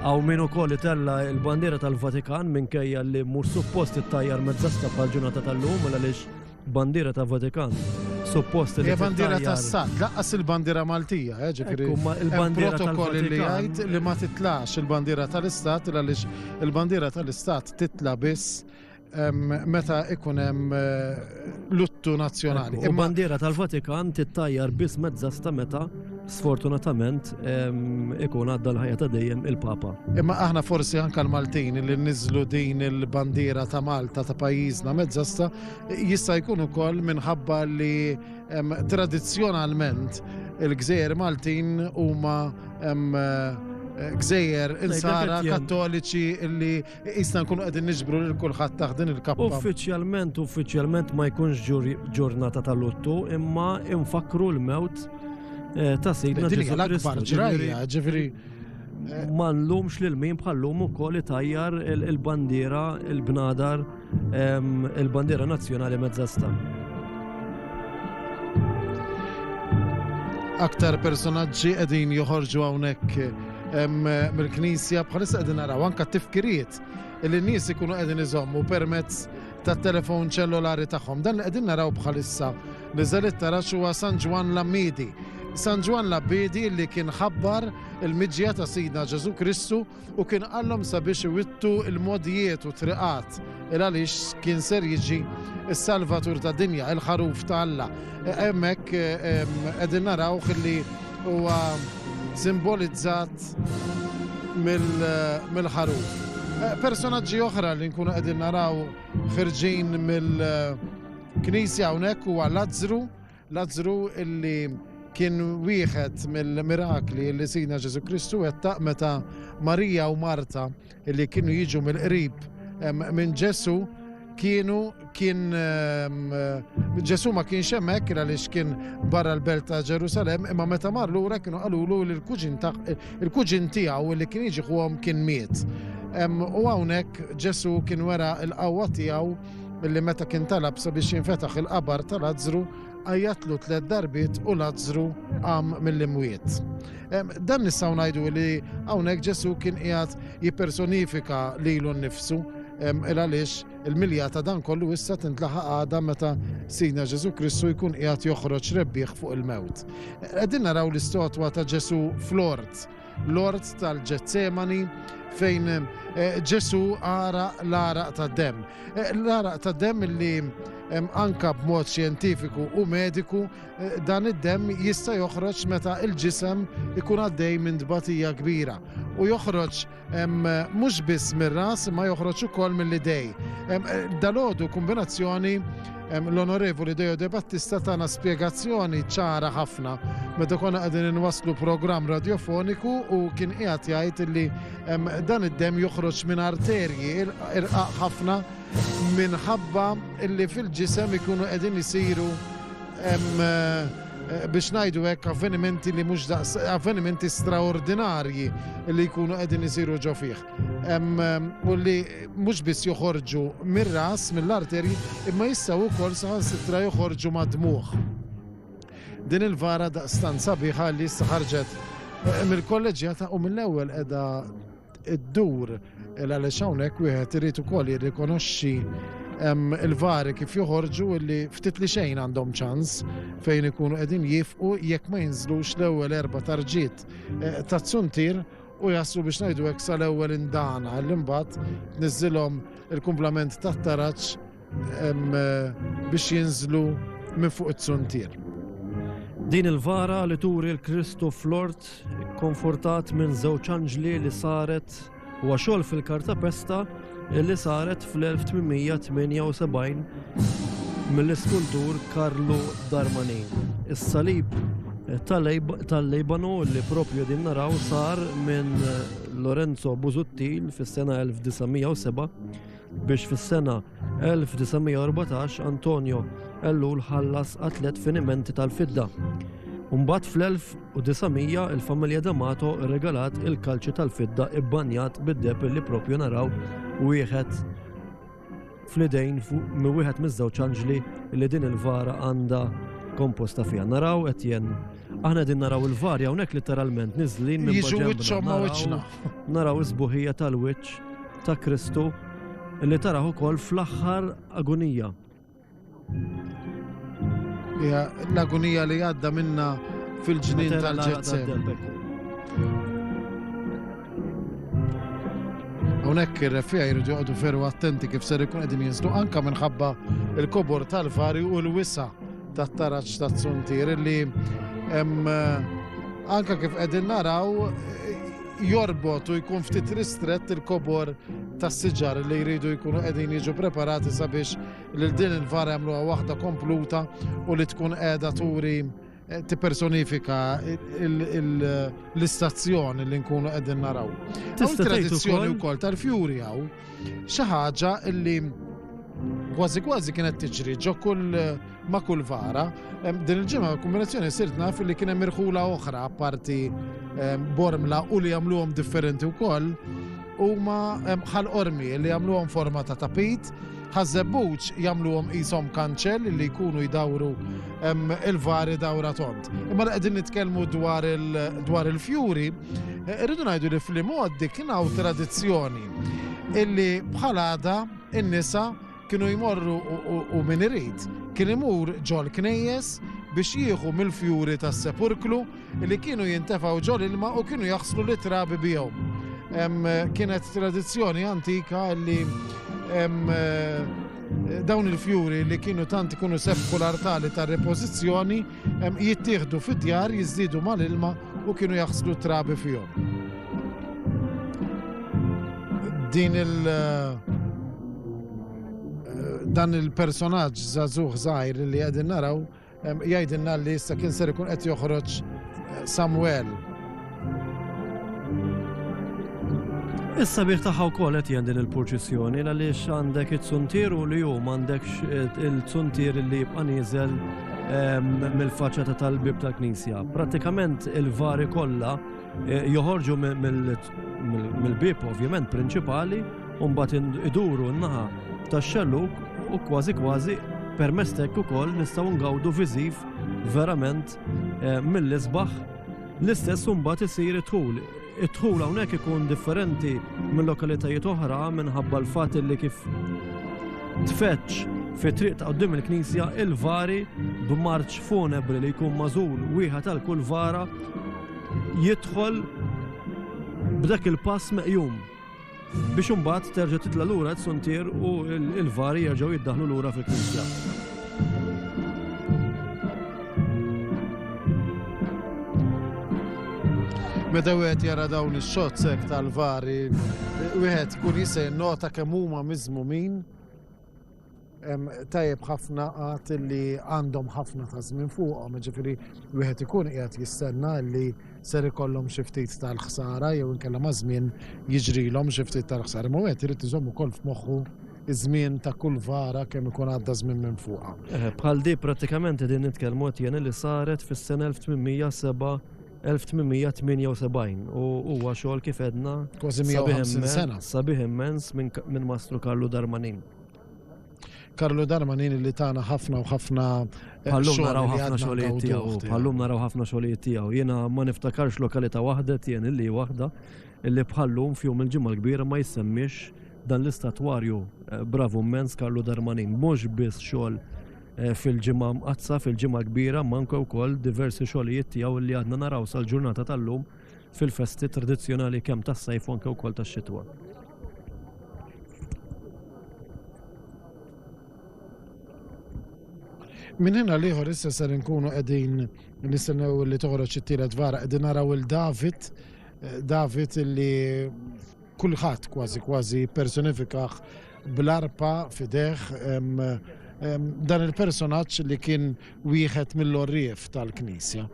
Hawn min ukoll itella' l-bandiera tal-Vatikan minkejja li mhux suppost tittajjar mezza stampa għall-ġurnata tal-lum għal għaliex bandiera ta' Vatikan suppost li tittajjar. Hija bandiera tas-Sat, laqqas il-bandiera Maltija, eh, ġifieri. Il-bandiera protokoll li jgħid li ma titlax il-bandiera tal-Istat għaliex il-bandiera tal-Istat titla' biss meta ikun hemm eh, luttu nazzjonali. U bandiera tal-Vatikan tittajjar biss mezzasta meta sfortunatament ikun għadda l-ħajja ta' dejjem il-Papa. Imma aħna forsi anka l-Maltin li niżlu din il-bandiera ta' Malta ta' pajjiżna mezzasta jista' jkun ukoll minħabba li tradizzjonalment il-gżejjer Maltin huma eh, gżejjer insara kattoliċi li Iqisna nkunu qegħdin niġbru lil kulħadd taħt din il-kappa. Uffiċjalment, uffiċjalment ma jkunx ġurnata ta' luttu, imma infakru l-mewt eh, ta' Sidna Ġesu l-akbar ġrajja, ġifieri eh, ma nlumx lil min bħallum ukoll itajjar il-bandiera, il-bnadar, ehm, il-bandiera nazzjonali mezzasta. Aktar personaġġi qegħdin joħorġu hawnhekk mill-Knisja bħalissa qegħdin naraw anke tifkiriet li n-nies ikunu qegħdin iżommu permezz tat-telefon ċellulari tagħhom. Dan li qegħdin naraw bħalissa li żelit tara huwa San Ġwan Lammidi. San Ġwan Lammidi li kien ħabbar il-miġja ta' Sidna Ġesu Kristu u kien qallhom sabiex iwittu il-modijiet u triqat Il għaliex kien ser jiġi s-Salvatur tad dinja, il-ħaruf ta' Alla. Hemmhekk qegħdin narawh li huwa simbolizzat mill-ħaruf. Personaġġi oħra li nkunu qegħdin naraw ħirġin mill-Knisja hawnhekk huwa Lazzru Lazzru illi kien wieħed mill-mirakli li Sina Ġesu Kristu wettaq meta Marija u Marta illi kienu jiġu mill-qrib minn Ġesu kienu kien Ġesu ma kienx hemmhekk għaliex kien barra l-belt ta' Ġerusalem imma meta mar lura kienu qalulu li l-kuġin tiegħu li kien jiġi kien miet. U hawnhekk Ġesu kien wera l-qawwa tiegħu Milli meta kien talab sabiex jinfetaħ il-qabar ta' Lazzru, għajjatlu tliet darbiet u Lazzru qam mill-imwiet. Dan nistgħu ngħidu li hawnhekk Ġesu kien qiegħed jippersonifika lilu nnifsu il għaliex il-milja ta' dan kollu issa tintlaħa għada meta Sina Ġesu Kristu jkun qiegħed joħroġ rebbieħ fuq il-mewt. Qegħdin naraw l-istotwa ta' Ġesu flort l-ort tal-Ġetsemani fejn eh, Ġesu ara l-araq ta' dem. Eh, l-araq ta' dem li anka b'mod xjentifiku u mediku eh, dan id-dem jista' joħroġ meta il-ġisem ikun għaddej minn tbatija kbira u joħroġ mhux biss mir-ras ma joħroġ ukoll mill-idej. Dalodu kombinazzjoni L-Onorevoli Dejo De Battista tana spjegazzjoni ċara ħafna meta konna qegħdin inwasslu programm radjofoniku u kien qiegħed jgħid li dan id-dem joħroġ minn arterji irqaq ħafna minħabba li fil-ġisem ikunu qegħdin isiru eh, biex najdu hekk avvenimenti li mhux avvenimenti straordinarji li jkunu qegħdin isiru ġo fih. u li mhux biss joħorġu mir-ras, mill-arterji, imma jistgħu wkoll saħansitra joħorġu mad-dmuħ. Din il-vara da' stanza biħa li issa ħarġet eh, mill-kolleġjata u mill-ewwel qiegħda id-dur għaliex hawnhekk wieħed irid ukoll jirrikonoxxi il-vari kif joħorġu li ftit li xejn għandhom ċans fejn ikunu qegħdin jifqu jekk ma jinżlux l-ewwel erba' tarġiet eh, ta' tsuntir u jaslu biex ngħidu hekk sal-ewwel indana li mbagħad niżilhom il-kumplament tat-taraġġ biex jinżlu minn fuq it-suntier. Din il-vara li turi l-Kristu flort konfortat minn żewġ anġli li saret huwa xogħol fil-kartapesta li saret fl-1878 mill-iskultur Karlu Darmanin. Is-salib tal-Libanu li propju din naraw sar minn Lorenzo Busuttil fis-sena 1907 biex fis-sena 1914 Antonio Ellul ħallas atlet finimenti tal-fidda. Umbat fl-1000 u 900 il-familja D'Amato rregalat il-kalċi tal-fidda ibbanjat bid-deheb illi proprju naraw wieħed fl-idejn mi wieħed miż-żewġ anġli li din il-vara għandha komposta fiha. Naraw qed jen aħna din naraw il-varja hawnhekk literalment niżlin minn Jiġu wiċċhom ma' wiċċna. Naraw is-buħija tal-wiċċ ta' Kristu li taraw ukoll fl-aħħar agonija. L-agonija li għadda minna fil-ġnien tal-ġezzem. Hawnhekk ir-refija jridu joqogħdu ferru attenti kif ser ikun qegħdin jinżlu anka minħabba il-kobor tal-fari u l-wisa tat-taraġġ ta' tsuntir li hemm eh, anka kif qegħdin naraw jorbot u jkun ftit ristrett il-kobor tas-siġar li jridu jkunu qegħdin jiġu preparati sabiex lil din il-vara jagħmluha waħda kompluta u li tkun qiegħda turi eh, tippersonifika l-istazzjon li nkunu qegħdin naraw. Tista' tradizzjoni wkoll tal-fjuri hawn xi ħaġa li kważi kważi kienet tiġri ġo kull ma' kull vara. Din il-ġimgħa kombinazzjoni sirt naf li kien hemm irħula oħra parti bormla u li jagħmluhom differenti wkoll huma bħal qormi li jagħmluhom forma ta' tapit ħażebbuċ jagħmluhom qishom kanċell li jkunu jdawru il-vari dawra tont. Imma li qegħdin nitkellmu dwar il-fjuri, eh, irridu ngħidu li fl-imgħoddi kien hawn tradizzjoni illi bħal għada in-nisa Kienu jmorru u min irid kien imur ġol-knejjes biex jieħu mill-fjuri tas-sepurklu li kienu jintefgħu ġol-ilma u kienu jaħslu lit-trabi bihom. Kienet tradizzjoni antika li dawn il-fjuri li kienu tant ikunu sefku l-artali tar-repożizzjoni Jittieħdu fid-djar, jiżdiedu mal-ilma u kienu jaħslu trabi fihom. Din il- eh, dan il-personaġġ żagħżugħ żgħir li qegħdin naraw jgħidilna li issa kien ser ikun qed joħroġ eh, Samuel Is-sabir tagħha wkoll qed jgħin din il-purċissjoni għaliex għandek it-suntier u li hu m'għandekx eh, il-suntier li jibqa' nieżel ehm, mill-faċċata tal-bib tal-Knisja. Prattikament il-vari kollha eh, joħorġu mill-bib ovvjament prinċipali u mbagħad iduru n-naħa tax-xelluk u kważi kważi permestek ukoll nistgħu ngawdu viżiv verament eh, mill-isbaħ L-istess imbagħad isir id-dħul. Id-dħul hawnhekk ikun differenti minn lokalitajiet oħra minħabba l-fatt li kif tfeċċ fi triq ta' qudiem il-Knisja il-vari b'marċ funebri li jkun mażul wieħed għal kull vara jidħol b'dak il-pass meqjum. Biex imbagħad terġa' titla' lura t-suntier u l-vari jerġgħu jiddaħlu lura fil-knisja. Meta wieħed jara dawn ix-shots hekk tal-vari, wieħed kun jista' jinnota kemm huma miżmumin Tajjeb ħafna għad li għandhom ħafna ta' żmien fuqhom, ġifieri wieħed ikun qiegħed jistenna li ser ikollhom xi ftit tal-ħsara jew inkella ma' żmien jiġrilhom xi ftit tal-ħsara. Imma wieħed irid iżomm ukoll f'moħħu iż-żmien ta' kull vara kemm ikun għadda żmien minn fuqha. Bħal di prattikament qegħdin nitkellmu qed li saret fis-sena 1807 1878 u huwa xogħol kif edna kważi 150 sena. Sabiħ immens minn Mastru Karlu Darmanin. Karlu Darmanin li tana ħafna u ħafna eh, Pallum naraw ħafna xogħlijiet tiegħu, pallum naraw ħafna xogħlijiet tiegħu. Jiena ma niftakarx lokalità waħda tien illi waħda illi bħallum fjum il-ġimgħa l-kbira ma jsemmix dan l-istatwarju eh, bravu immens Karlu Darmanin. Mhux biss xogħol fil-Ġimgħa Mqaddsa, fil-Ġimgħa Kbira, manka wkoll diversi xogħlijiet tiegħu li għadna naraw sal-ġurnata tal-lum fil-festi tradizzjonali kemm tas-sajf u anke wkoll tax-xitwa. Minn hena liħor issa ser nkunu qegħdin nistennew li toħroġ it-tielet vara qegħdin naraw il David eh, David li Kulħadd kważi kważi personifikah bl-arpa fideh dan il-personaġġ li kien wieħed mill-orrief tal-Knisja.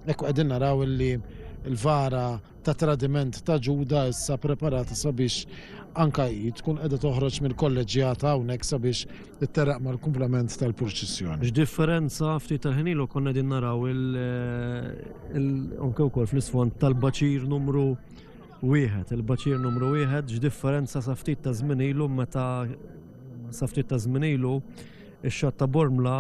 Ekku qegħdin naraw li l-vara ta' tradiment ta' Ġuda issa preparata sabiex anka hi tkun qiegħda toħroġ mill-kolleġġjata hawnhekk sabiex itterraq mal-kumplament tal-purċissjoni. X'differenza ftit tal-ħinilu konna din naraw il-onke wkoll fl-isfond tal-baċir numru Wieħed, il-baċir numru wieħed, x'differenza sa ftit ta' żmien ilu meta sa ftit ta' żmien ilu ix-xatt ta' Bormla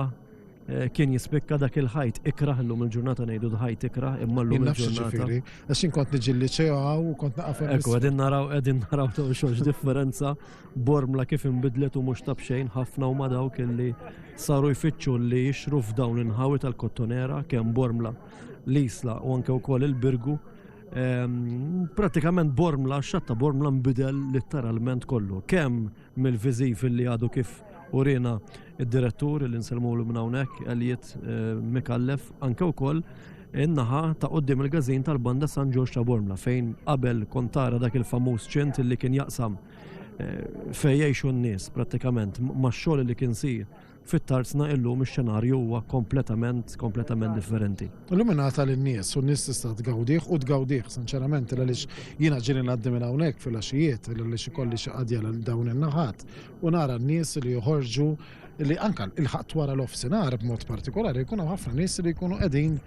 eh, kien jispikka dak il-ħajt ikrah illum il-ġurnata ngħidu l-ħajt ikrah imma llum il-ġurnata. Għax inkont niġi li ċew u kont naqaf. Ekku qegħdin naraw qegħdin naraw ta' xogħol differenza Bormla kif inbidlet u mhux tabxejn ħafna u ma dawk illi saru jfittxu li jixru f'dawn l-inħawi tal-kottonera kemm Bormla l-Isla u anke wkoll il-Birgu Ehm, pratikament Bormla, xatta Bormla nbidel litteralment kollu. Kemm mill-viżiv li għadu kif urina id-direttur li nselmu l hawnhekk Elijiet eh, Mikallef, anke wkoll in-naħa ta' qoddim il-gazin tal-banda San Ġorġ ta' Bormla fejn qabel kontara dak il-famuż ċint li kien jaqsam eh, fejjejxu n-nies pratikament ma' xogħol li kien sir Fit-Tarzna illum ix-xenarju huwa kompletament, kompletament differenti. Illum ingħata lin-nies u n-nies tista' tgawdih u tgawdih sinċerament għaliex jiena ġieli ngħaddi minn hawnhekk filgħaxijiet għaliex ikolli xi qadja lil dawn in-naħat u nara n-nies li joħorġu li anke ilħaqt wara l-offsinhar b'mod partikolari jkun hawn ħafna nies li jkunu qegħdin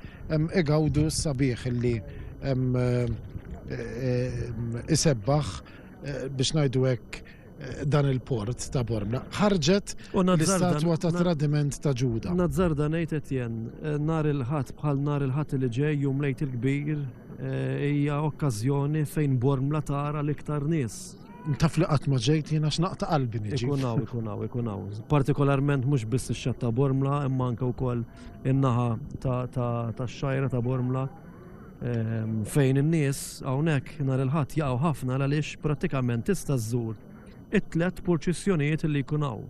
igawdu s-sabiħ li isebbaħ biex ngħidu hekk dan il-port ta' Bormla, ħarġet l-istatwa ta' tradiment ta' Ġuda. Nazzar dan ngħid Etjen, eh, nar il-ħadd bħal nar il-ħadd li ġej jum lejt il-kbir eh, hija okkażjoni fejn Bormla tara l-iktar nies. Taf li qatt ma ġejt jiena x'naqta qalbi niġi. Ikunaw, ikunaw, ikunaw. Partikolarment mhux biss ix-xatta Bormla, imma anke wkoll in-naħa ta' xajra ta' Bormla fejn in-nies hawnhekk nhar il-Ħadd jaqgħu ħafna għaliex prattikament tista' żżur it-tlet purċissjonijiet li jkun hawn.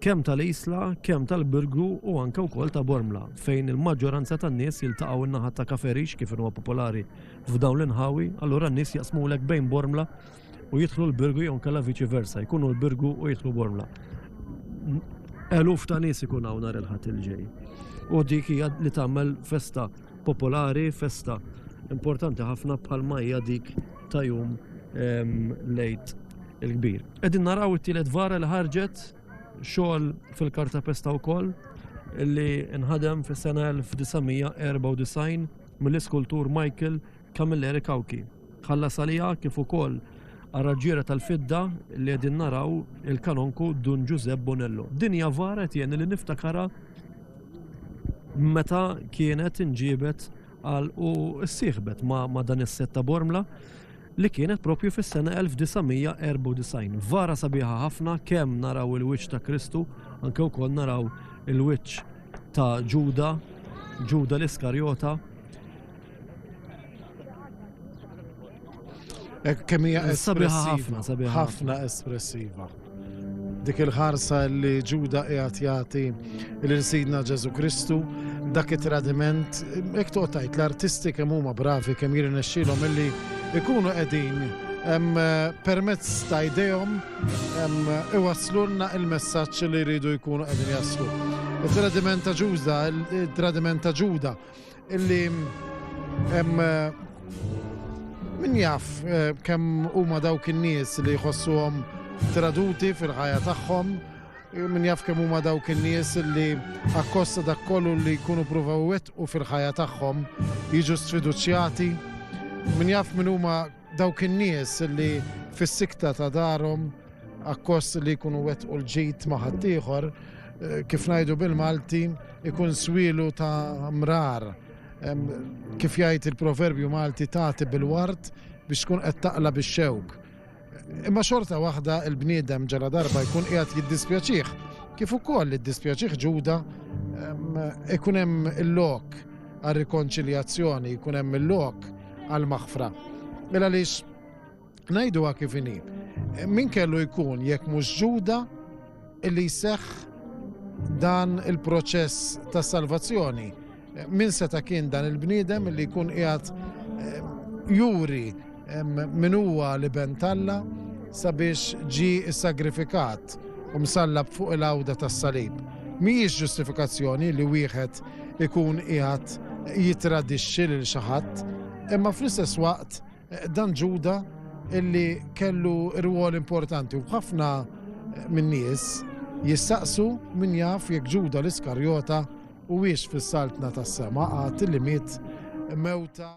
Kemm tal-Isla, kemm tal-Birgu u anke wkoll ta' Bormla, fejn il-maġġoranza tan-nies jiltaqgħu in-naħa ta' Kaferix kif huwa popolari f'dawn l-inħawi, allura n-nies jaqsmulek bejn Bormla u jidħlu l-Birgu jew nkella viċi versa, jkunu l-Birgu u jidħlu Bormla. Eluf ta' nies ikun hawn nhar il-ħadd il-ġej. U dik hija li tagħmel festa popolari, festa importanti ħafna bħal hija dik ta' jum ehm, lejt il-kbir. Qegħdin naraw it-tielet vara li ħarġet xogħol fil-karta pesta wkoll li nħadem fis-sena 1994 mill-iskultur Michael Camilleri Cauchi ħallas għaliha kif ukoll għar-raġġiera tal-fidda li qegħdin naraw il-Kanonku Dun Ġużepp Bonello. Din hija vara qed jgħinni li niftakarha meta kienet inġiebet għal u ssieħbet ma' dan is-set ta' Bormla li kienet propju fis-sena 1994. Vara sabiħa ħafna kemm naraw il-wiċċ ta' Kristu, anke wkoll naraw il-wiċċ ta' Ġuda, Ġuda l-Iskarjota, Kemm hija ħafna, sabiħa ħafna espressiva. Dik il-ħarsa li Ġuda qiegħed jagħti l Sidna Ġesu Kristu, dak it-tradiment, hekk toqgħod l-artisti kemm huma bravi kemm jirnexxilhom illi ikunu qegħdin Eh, permezz ta' idejhom iwaslulna il-messaġġ li jridu jkunu qegħdin jaslu. Il-tradiment ta' ġuża, il-tradiment ta' ġuda, Illi hemm min jaf eh, kemm huma dawk in-nies li jħossuhom traduti fil-ħajja tagħhom, eh, min jaf kemm huma dawk in-nies li akkosta dak kollu li jkunu pruvaw u fil-ħajja tagħhom jiġu sfiduċjati, min jaf min huma Dawk in-nies li fis-sikta ta' darhom akkost li jkunu wettqu l-ġid ma' ħaddieħor, kif ngħidu bil-Malti, ikun swielu ta' mrar. Kif jgħid il-proverbju Malti tagħti bil-ward biex tkun qed taqla' bix-xewk. Imma xorta waħda l-bniedem ġala darba jkun qiegħed jiddispjaċih, kif ukoll iddispjaċih Ġuda, ikun hemm il-lok għar-rikonċiljazzjoni, jkun hemm il-lok għall-maħfra. Mela għaliex ngħiduha kif inhi. Min kellu jkun jekk mhux Ġuda li jseħħ dan il-proċess ta' salvazzjoni. Min seta' kien dan il-bniedem li jkun qiegħed eh, juri eh, min huwa li bentalla sabiex ġi sagrifikat u msallab fuq il-għawda tas-salib. Mhijiex ġustifikazzjoni li wieħed ikun qiegħed jittradixxi lil xi ħadd, imma fl-istess waqt eh, dan Ġuda illi kellu rwol importanti u ħafna eh, minn nies jistaqsu min jaf jekk Ġuda l-Iskarjota u wiex fis-saltna tas-sema għad li miet mewta.